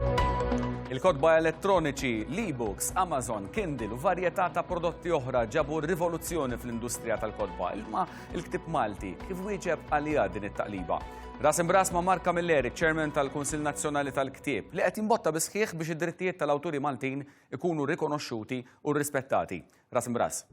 Il-kotba elettroniċi, l-e-books, Amazon, Kindle u varjetà ta' prodotti oħra ġabu rivoluzzjoni fl-industrija tal-kotba, ilma il-ktib Malti kif wieġeb għalija din it-taqliba. Ras imbras ma' Mark Camilleri, chairman tal-Kunsil Nazzjonali tal-Ktieb, li qed jimbotta bisħiħ biex id-drittijiet tal-awturi Maltin ikunu rikonoxxuti u rrispettati. Ras imb'ras.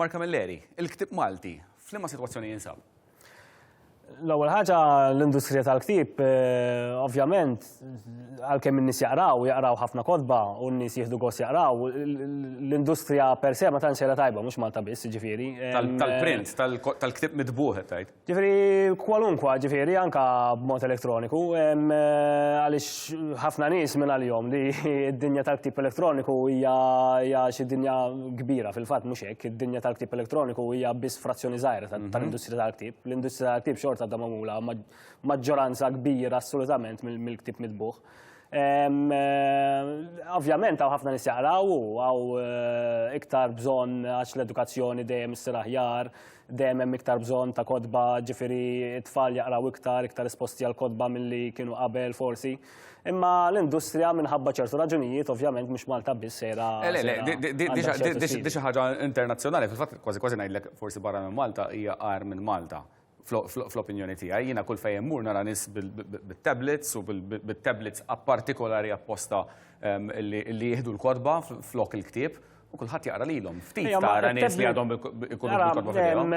Mark Camilleri, il-ktib Malti, f'liema sitwazzjoni jinsab? L-ewwel ħaġa l-industrija tal-ktieb, eh, ovvjament, għalkemm in-nies jaqraw, jaqraw ħafna kodba u n-nies jieħdu gost jaqraw, l-industrija per se ma tantx era tajba mhux Malta biss, ġifieri. Tal-print, tal-ktieb mitbuħ tajt. Ġifiri, kwalunkwa, ġifiri, anka b'mod elektroniku, għalix ħafna nis minn għal-jom li id-dinja tal-ktib elektroniku hija xi dinja kbira fil-fatt mhux hekk, id-dinja tal-ktib elektroniku hija biss frazzjoni żgħira mhm. tal-industrija tal-ktib. L-industrija tal-ktib xorta da magħmula maġġoranza kbira assolutament mill-ktib mitbuħ. Eh, ovvjament għaw ħafna nisjaqraw u għaw eh, iktar bżon għax l-edukazzjoni dejjem s-sir aħjar, Dejjem hemm iktar bżonn ta' kotba, ġifieri t-tfal jaqraw iktar, iktar esposti għal kotba milli kienu qabel forsi. Imma l-industrija minħabba ċertu raġunijiet ovvjament mhux Malta biss sejra. Eh, le, le, di xi ħaġa internazzjonali, fil-fatt kważi kważi ngħidlek forsi barra minn Malta hija għar minn Malta fl-opinjoni tiegħi. Jiena kull fejn mur nara nies bit-tablets u bit-tablets partikolari apposta ehm, li jieħdu l-kodba flok il-ktieb U kulħadd jaqra lilhom. Ftit tara nies li għadhom ikunu bil-korba fidejhom.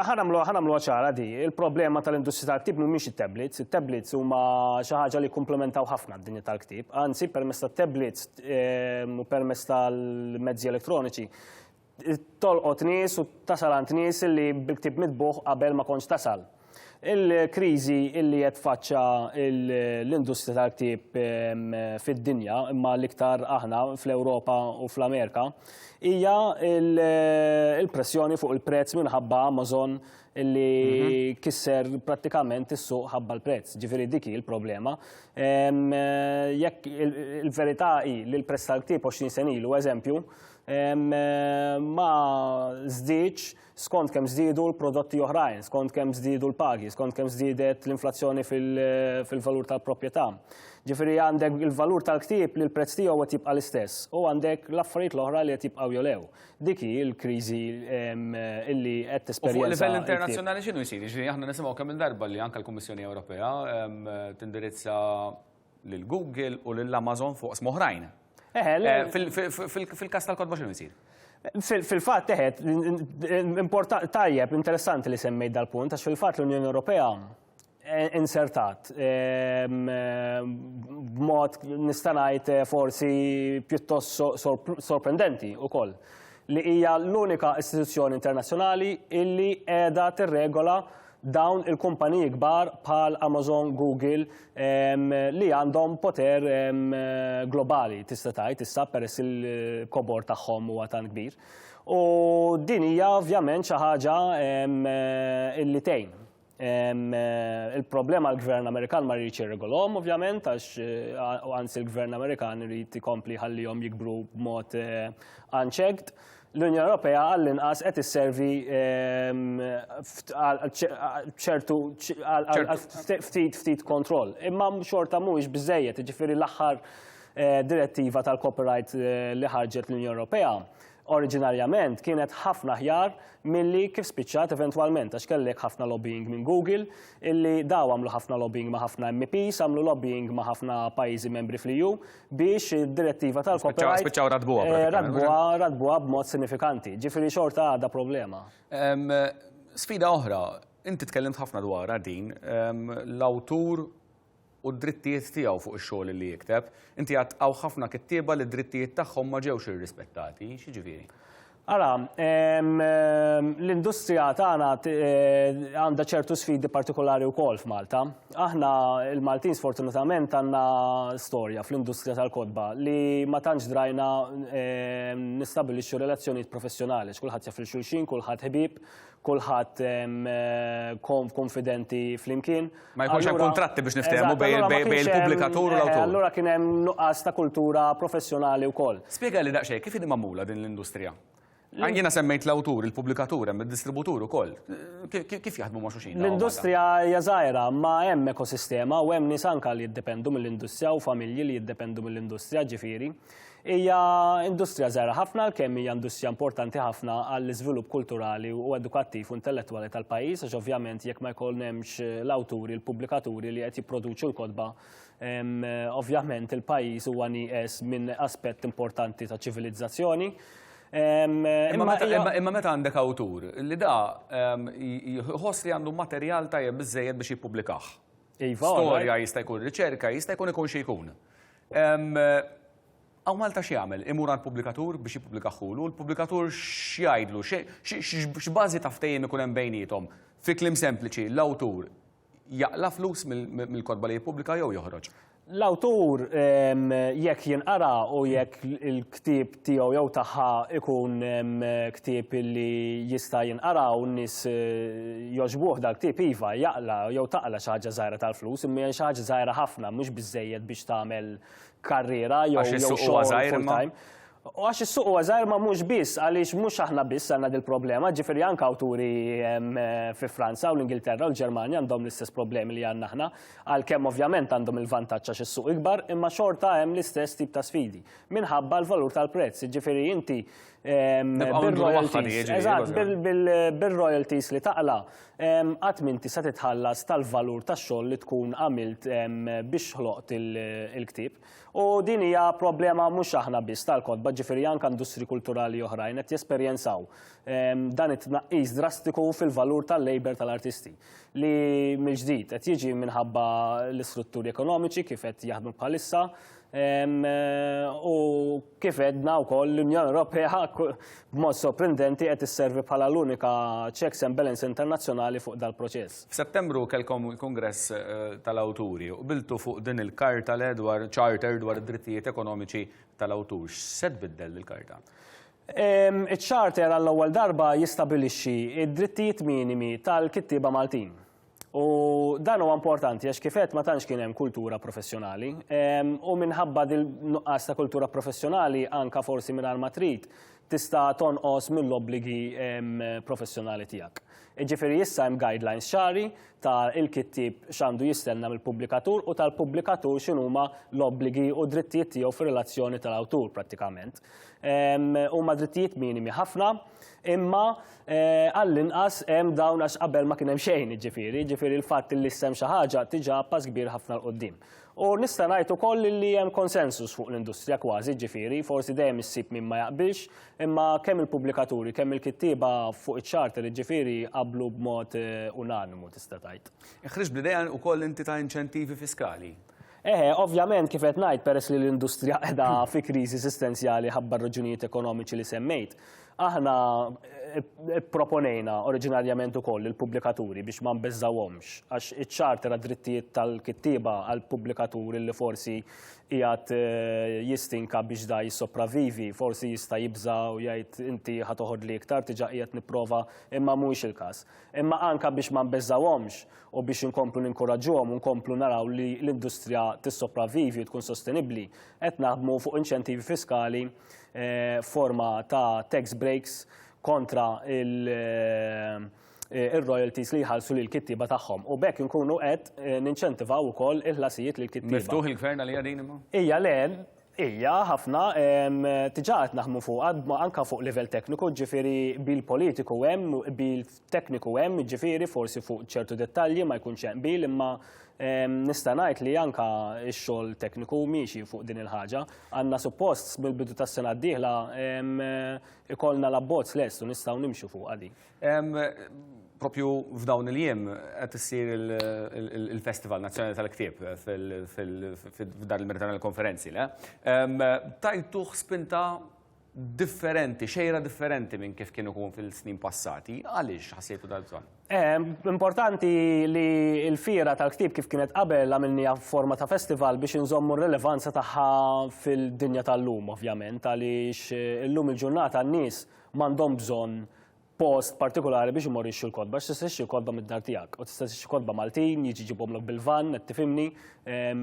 Ħanamlu ħanamlu ċara di. Il-problema tal-industrija tal-ktib mhumiex it-tablets. It-tablets huma xi ħaġa li komplementaw ħafna d-dinja tal-ktib. Anzi, permezz tat-tablets u permezz tal-mezzi elettroniċi tolqot nies u tasal għand nies li bil-ktib mitbuħ qabel ma kontx tasal. Il-kriżi illi qed tfaċċa l-industrija tal-ktieb ehm, fid-dinja, imma l-iktar aħna fl-Ewropa u fl-Amerika, hija il-pressjoni fuq il-prezz minħabba Amazon illi mhm. kisser pratikament is-suq ħabba l-prezz. Ġifieri dik hi l-problema. Ehm, jekk il-verità hi li l-prezz tal-ktieb 20 senilu, eżempju, ehm, ma żdiedx skont kemm żdiedu l-prodotti oħrajn, skont kemm żdiedu l-pagi, skont kemm żdiedet l-inflazzjoni fil-valur tal-proprjetà. Ġifieri għandek il-valur tal-ktieb li l-prezz tiegħu qed jibqa' l-istess u għandek l-affarijiet l-oħra li qed jibqgħu jolew. Dik hi l-kriżi li qed tesperjenza. Fuq livell internazzjonali x'inhu jsir? Jiġifieri aħna nisimgħu kemm-il darba li anke l-Kummissjoni Ewropea tindirizza lil Google u lil Amazon fuq smoħrajn. Fil-kas tal-kodba xinu jisir? Fil-fat teħet, tajjeb, interessanti li semmejt dal-punt, għax fil-fat l-Unjoni Ewropea eh, insertat eh, b'mod nistanajt eh, forsi pjuttost sorprendenti u koll li hija l-unika istituzzjoni internazzjonali illi qiegħda tirregola dawn il-kumpaniji kbar bħal Amazon, Google li għandhom poter globali tista' tgħid issa peress il-kobor tagħhom huwa tan kbir. U din hija ovvjament xi ħaġa illi tgħin. Il-problema l-Gvern Amerikan ma rridx irregolhom ovvjament għax anzi l-Gvern Amerikan irid ikompli ħallihom jikbru b'mod unchecked. l-Unjoni Ewropea għall-inqas qed isservi ċertu ftit ftit kontroll. Imma xorta mhuwiex biżejjed, jiġifieri l-aħħar eh, direttiva tal-copyright eh, li ħarġet l-Unjoni Ewropea oriġinarjament kienet ħafna ħjar milli kif spiċċat eventwalment għax kellek ħafna lobbying minn Google illi daw għamlu ħafna lobbying ma' ħafna MPs, għamlu lobbying ma' ħafna pajjiżi membri fl-EU biex id-direttiva tal-copyright. Spiċċaw radbuha. Eh, radbuha, radbuha b'mod sinifikanti. Ġifieri xorta għadha problema. Sfida oħra, inti tkellimt ħafna dwar din, l-awtur u d-drittijiet tiegħu fuq ix-xogħol li jikteb, inti għad ħafna kittieba li d-drittijiet tagħhom ma ġewx irrispettati, x'ġifieri? Ara, l-industrija tagħna għandha ċertu sfidi partikolari wkoll f'Malta. Aħna l-Maltin sfortunatament għandna storja fl-industrija tal-kotba li ma tantx drajna nistabbilixxu relazzjonijiet professjonali, x'kulħadd jaf lil xulxin, kulħadd ħbieb, kulħadd konfidenti flimkien. Ma jkunx hemm kuntratti biex niftehmu bejn il-pubblikatur u l-awtur. Allura kien hemm nuqqas ta' kultura professjonali wkoll. Spjega li daqsxejn kif inhi magħmula din l-industrija? Jiena semmejt l-awtur, il-pubblikatur, hemm id-distributur ukoll. Kif jaħdmu ma' xulxin? L-industrija hija żgħira, ma hemm ekosistema u hemm nies anke li jiddependu mill-industrija u familji li jiddependu mill-industrija ġifieri. Hija industrija żgħira ħafna għalkemm hija industrija importanti ħafna għall-iżvilupp kulturali u edukattiv u intellettwali tal-pajjiż għax ovvjament jekk ma jkun hemmx eh, l-awturi, l-pubblikaturi li qed jipproduċu l-kotba, ovvjament il-pajjiż huwa nieqes minn aspett importanti ta' ċivilizzazzjoni. Imma meta għandek awtur li da jħoss li għandu materjal tajjeb biżejjed biex jippubblikah. Iva, Storja jista' jkun riċerka, jista' jkun ikun xi jkun. Hawn Malta x'jagħmel? Imur għall-pubblikatur biex jippubblika ħulu, l-pubblikatur x'jgħidlu? X'bażi ta' ftehim ikun hemm bejniethom? Fi kliem sempliċi, l-awtur jaqla' flus mill-kotba li jippubblika jew joħroġ? L-awtur jekk jinqara u jekk il-ktieb tiegħu jew tagħha jkun ktieb li jista' jinqara u n-nies jogħġbuh dal-ktieb, iva, jaqla' jew taqla' xi ħaġa żgħira tal-flus, imma hija xi ħaġa żgħira ħafna, mhux biżżejjed biex tagħmel karriera jew xogħol full-time. Għax is-suq huwa żgħir, imma mhux biss, għaliex mhux aħna biss għandna dil-problema, ġifieri anke awturi fi Franza u l-Ingilterra u l-Ġermanja għandhom l-istess problemi li għandna aħna, għalkemm ovvjament għandhom il-vantaġġ għax is-suq ikbar, imma xorta hemm l-istess tip ta' sfidi. minħabba l-valur tal-prezz, ġifiri inti bil-royalties li taqla, għat minti sa titħallas tal-valur ta' xogħol li tkun għamilt biex ħloqt il-ktib. U din hija problema mhux aħna biss tal-kodba, ġifiri anka industri kulturali oħrajn qed jesperjenzaw dan it-tnaqqis drastiku fil-valur tal-labor tal-artisti li mill-ġdid qed jiġi minħabba l-istrutturi ekonomiċi kif qed jaħdmu bħalissa U kif edna wkoll l-Unjoni Ewropea b'mod sorprendenti qed isservi bħala l-unika checks and balance internazzjonali fuq dal-proċess. F'Settembru kellkom il-Kungress tal-Awturi u qbiltu fuq din il-Karta le dwar Charter dwar id-Drittijiet Ekonomiċi tal-Awtur. X'se tbiddel dil-Karta? Iċ-Charter għall-ewwel darba jistabilixxi d-drittijiet minimi tal-kittieba Maltin. U dan huwa importanti għax kif qed ma tantx kien hemm kultura professjonali. Ehm, u minħabba dil-nuqqas ta' kultura professjonali anka forsi minn ma trid tista' tonqos mill-obbligi ehm, professjonali tiegħek. Ġifieri issa hemm guidelines xari ta' il-kittib x'għandu jistenna mill-pubblikatur u tal-pubblikatur x'inhuma l-obbligi u drittijiet tiegħu fir-relazzjoni tal-awtur prattikament. Ehm, huma drittijiet minimi ħafna Imma għall-inqas hemm dawn għax qabel ma kien hemm xejn, jiġifieri, jiġifieri l-fatt li issa hemm xi ħaġa diġà pass kbir ħafna 'l quddiem. U nista' ngħid ukoll li hemm konsensus fuq l-industrija kważi, jiġifieri, forsi dejjem issib min ma jaqbilx, imma kemm il-pubblikaturi, kemm il-kittieba fuq iċ-charter, jiġifieri, qablu b'mod unanimu tista' tgħid. Ħriġt bl-idea ukoll inti ta' inċentivi fiskali. Eħe, ovvjament kif qed ngħid peress li l-industrija qiegħda fi kriżi sistenzjali ħabba r-raġunijiet ekonomiċi li semmejt, aħna pproponejna oriġinarjament ukoll lill-pubblikaturi biex ma nbeżżgħuhomx għax iċ-Charter għad-Drittijiet tal-Kittieba għal pubblikatur illi forsi qiegħed jistinka biex da jissopravvivi, forsi jista' jibża' u jgħid inti ħa toħodli iktar diġà qiegħed nipprova imma mhuwiex il-każ. Imma anke biex ma nbeżżgħuhomx u biex inkomplu ninkoraġġuhom u nkomplu naraw li l-industrija tissopravvivi u tkun sostenibbli, qed naħdmu fuq inċentivi fiskali forma ta' tax breaks kontra il-royalties li jħallsu lill-kittieba tagħhom. U b'hekk inkunu qed ninċentivaw ukoll il-ħlasijiet lill-kittieba. Miftuħ il-Gvern għaliha din imma? Hija le, Hija, ħafna, diġà qed naħdmu fuqha, anke fuq livell tekniku, ġifieri qbil politiku hemm, qbil tekniku hemm, ġifieri forsi fuq ċertu dettalji ma jkunx hemm qbil imma nista' ngħid li anke x-xogħol tekniku miexi fuq din il-ħaġa. Għandna suppost mill-bidu tas-sena d-dieħla ikollna l-abbozz lest u nistgħu nimxu fuqha din. Propju f'dawn il-jiem qed issir il-Festival Nazzjonali tal-Ktieb f'dar il-Merita tal-Konferenzi, le? Tajtuh spinta differenti, xejra differenti minn kif kien ikun fil-snin passati. Għaliex ħassejtu dal-bżonn? Importanti li l-Fiera tal-Ktieb kif kienet qabel għamilniha f'forma ta' festival biex inżommu r-rilevanza tagħha fil-dinja tal-lum, ovvjament, għaliex illum il-ġurnata n-nies m'għandhom bżonn post partikulari biex imorru jixxu l-kotba, għax tista' tixxi l-kotba mid-dar tiegħek u tista' tixxi kotba Maltin, jiġi ġibhomlok bil-vann, qed tifhimni, ehm,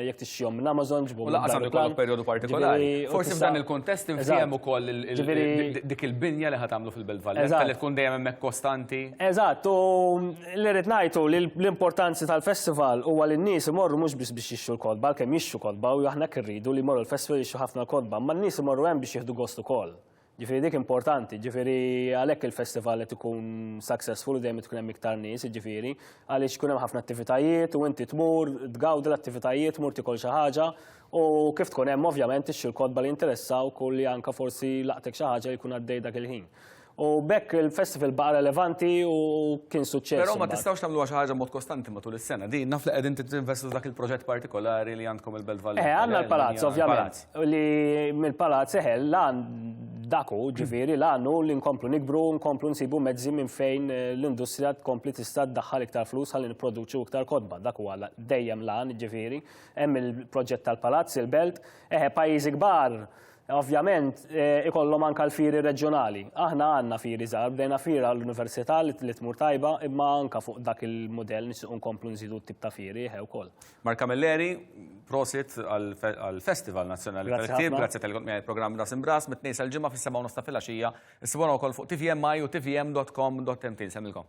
jekk tixxihom minn Amazon ġibhom. U laqas għandu jkollok perjodu partikolari. Forsi f'dan il-kuntest infhem ukoll dik il-binja li ħad tagħmlu fil-Belt Valletta li tkun dejjem hemmhekk kostanti. Eżatt, u li rrid ngħidu li l-importanzi tal-festival huwa li n-nies imorru mhux biss biex jixxu l-kotba, għalkemm jixxu kotba u aħna kirridu li jmorru l-festival jixxu ħafna l-kotba, ma n-nies imorru hemm biex jieħdu gost ukoll. Ġifieri dik importanti, ġifieri għalhekk il-festival qed ikun successful u dejjem tkun hemm iktar nies, ġifieri għaliex tkun hemm ħafna attivitajiet u inti tmur tgawdi l-attivitajiet, mur tikol xi ħaġa u kif tkun hemm ovvjament ixxi l-kotba li jinteressawk u li anke forsi laqtek xi ħaġa li jkun għaddej dak il-ħin. U b'hekk il-festival baqa' relevanti u kien suċċess. Però ma tistgħux tagħmluha xi ħaġa b'mod kostanti matul is-sena. Din naf li qegħdin tinvestu f'dak il-proġett partikolari li għandkom il-Belt Valletta. Eh, għandna l-palazz ovvjament. li mill-Palazz seħel lan daku, ġifiri lan u li nkomplu nikbru, nkomplu nsibu mezzi minn fejn eh, l-industrija tkompli tista' ddaħħal iktar flus għalli nipproduċu iktar kodba. Dak huwa dejjem lan, ġifiri, hemm il-proġett tal-Palazz, il-Belt, eħe pajjiżi kbar Ovvjament, eh, ikollhom anka l-firi reġjonali. Aħna għandna firi żgħar, bdejna fira l-università li tmur tajba, imma anka fuq dak il-modell nixtieq nkomplu nżidu t-tip ta' firi ħew eh, ukoll. Mark Camilleri, prosit għall-Festival Nazzjonali tal-Ktieb, grazzi tal-li kont miegħi programm Ras Imbras, mit-tnejn sal-ġimgħa fis-seba' u nofs ta' filgħaxija, issibuna wkoll fuq tvmi u tvm.com.mt. Semmilkom.